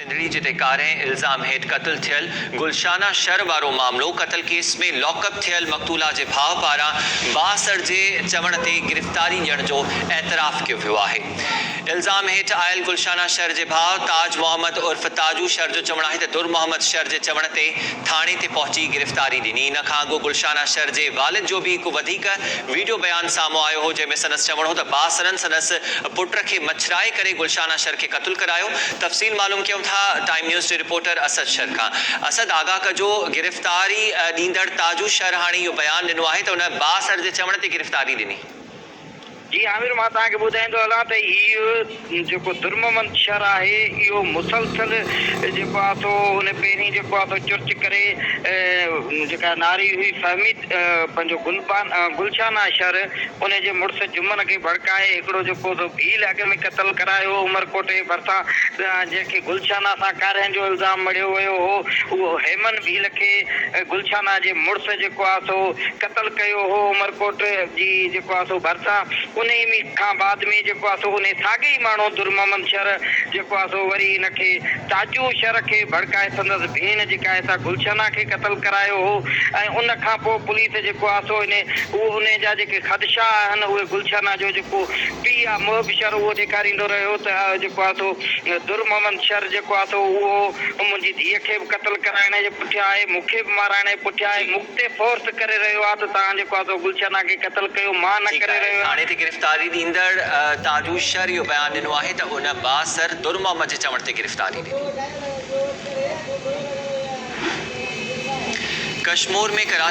سنڌڙي جتي ڪارنهن الزام هيٺ قتل ٿيل گلشانه شر وارو معاملو، قتل ڪيس ۾ لاڪ اپ ٿيل مقتولا جي ڀاء پاران بااثر جي چوڻ تي گرفتاري ڏيڻ جو اعتراف ڪيو ويو آهي. الزام هيٺ آيل گلشانه شر جي ڀاء تاج محمد عرف تاجو شر جو چوڻ آهي ته در محمد شر جي چوڻ تي ٿاڻي تي پهچي گرفتاري ڏني ان کان اڳو گلشانه شر جي والد جو به هڪ وڌيڪ ويڊيو بيان سامهون آيو هو جنهن ۾ سندس چوڻ هو ته باسرن سندس پٽ کي مڇرائي ڪري گلشان اشر کي قتل ڪرايو تفصيل معلوم ڪيون ٿا ٽائيم نيوز جي رپورٽر اسد شر کان اسد آگاهه ڪجو گرفتاري ڏيندڙ تاجو شر هاڻي اهو بيان ڏنو آهي ته هن باسر جي چوڻ تي گرفتاري ڏني. جي عامر مان توهان کي ٻڌائيندو هلان ته هي جيڪو درممند شھر آھي اھو مسلسل جيڪو آ سو ان پيرين جيڪو آ سو چرچ ڪري جيڪا ناري ھئي فھمي پنھنجو گلبان گلشان آ شھر ان جي مڙس جمن کي ڀڙڪائي ھڪڙو جيڪو سو ڀيل اڳ ۾ قتل ڪرايو عمرڪوٽ جي ڀرسان جنھن کي گلشان سان ڪارھين جو الزام مڙھيو ويو ھو اھو ھيمن ڀيل کي گلشان جي مڙس جيڪو آ سو قتل ڪيو ھو عمرڪوٽ جي جيڪو آ سو ڀرسان انهيء ۾ کان بعد ۾ جيڪو آهي سو انهيء ساڳئي ئي ماڻهوء درمحمد شر جيڪو آهي سو وري هن کي تاجو شر کي ڀڙڪائي سندس ڀيڻ جيڪا آهي سا گلشنه کي قتل ڪرايو هو ۽ ان کان پوء پوليس جيڪو آهي سو انهيء اهو انهيء جا جيڪي خدشا آهن اهي گلشنه جو جيڪو پيء آهي محب شر اهو ڏيکاريندو رهيو ته جيڪو آهي سو درمحمد شر جيڪو آهي سو اهو منهنجي ڌيء کي به قتل ڪرائڻ جي پٺيان آهي مون کي به مارائڻ جي پٺيان آهي مون تي فورس ڪري رهيو آ ته توهان جيڪو آ سو گلشن آ کي قتل ڪيو مان نه ڪري رهيو آهيان. ٿاڻي تي گرفتاري ڏيندڙ تاجو شر اهو بيان ڏنو آهي ته هن بااثر در محمد جي چوڻ تي گرفتاري ڏني. ڪشمور ۾ ڪراچي